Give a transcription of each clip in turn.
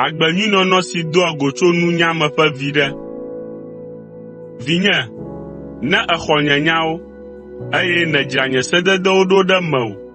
Agbenyuinɔnɔ si doa go tso nunya me ƒe viɖe. Vinye, ne èxɔ nye nyawo, eye nèdzra nye sededewo ɖo ɖe mewò,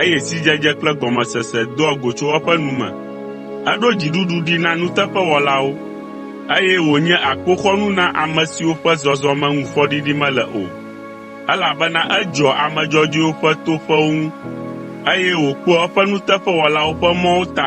eye sidzedze kple gɔmesese doa go tso eƒe nu me. Eɖo dziɖuɖu ɖi na nuteƒewɔlawo, eye wònye akpoxɔnu na ame siwo ƒe zɔzɔme ŋu fɔɖiɖi mele o, elabena edzɔa ame dzɔdzɔewo ƒe toƒewo ŋu, eye wòkpɔa eƒe nuteƒewɔlawo ƒe mɔwo ta.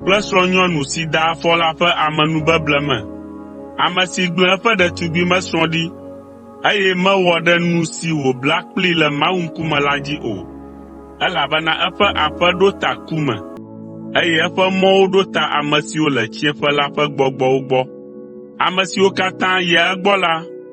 kple srɔ̃nyɔnu si da afɔ la ƒe amenubeble me, ame si gblẽ eƒe ɖetugbimesrɔ̃ ɖi, eye mewɔ ɖe nu si wòbla kplii le Mawu ŋkume la dzi o, elabena eƒe aƒe ɖo ta ku me, eye eƒe mɔwo ɖo ta ame siwo le tsiẽƒe la ƒe gbɔgbɔwo gbɔ, ame siwo katã yia egbɔ la